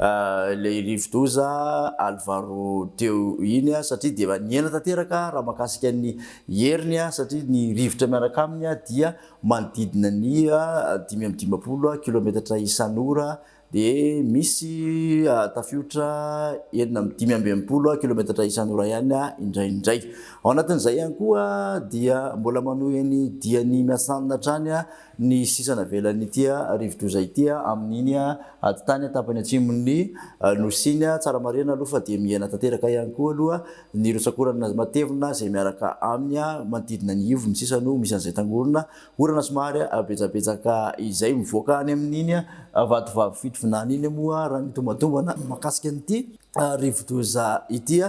Ilay rivodoza Alvaro teo iny satria dia nihena tanteraka raha mahakasika ny heriny satria ny rivotra miaraka aminy dia manodidina ny dimy amby dimampolo kilometatra isan'ora dia misy tafiotra enina amby dimy amby enimpolo kilometatra isan'ora ihany indraindray. Ao anatin'izay ihany koa dia mbola manohy ny diany miasanina hatrany ny sisa navelan'ity rivodoza ity amin'iny ady tany tapany atsimon'ny Nosy iny. Tsara marihina aloha fa dia mihena tanteraka ihany koa aloha ny rotsakorana matevina izay miaraka aminy manodidina ny ivon'ny sisa no misy an'izay tangorona orana somary betsabetsaka izay mivoaka any amin'iny vatovavy fitovinany iny moa raha ny tombantombana mahakasika an'ity rivodoza ity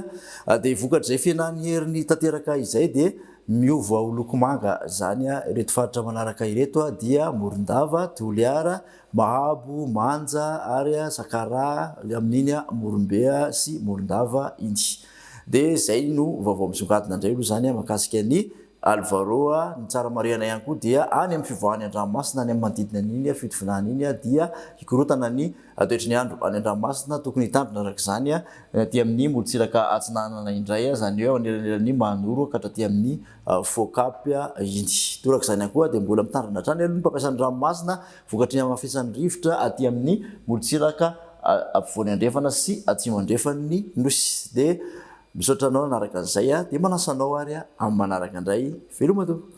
dia vokatr'izay fihenan'ny heriny tanteraka izay dia Miova ho loko manga zany ireto faritra manaraka ireto dia Morondava, Toliara, Mahabo, Manja ary Sakaraha amin'iny Morombe sy Morondava iny. Dia zay no vaovao misongadina indray aloha zany mahakasika an'i Alvaro. Ny tsara marihana ihany koa dia any amin'ny fivoahan'ny andranomasina any amin'ny manodidina an'iny fitovinany iny dia hikorotana ny. Toetry ny andro any an-dranomasina tokony hitandrina araka izany ny aty amin'ny morontsiraka atsinanana indray izany hoe ao anelanelan'ny Manoro ka hatraty amin'ny Focap iny. Toraka izany ihany koa dia mbola mitandrina hatrany aloha ny mpampiasa ny ranomasina vokatry ny hamafisan'ny rivotra aty amin'ny morontsiraka ampovoany andrefana sy atsimo andrefan'ny Nosy. Dia misaotra anao nanaraka an'izay dia manasa anao ary amin'ny manaraka indray. Veloma tompoko.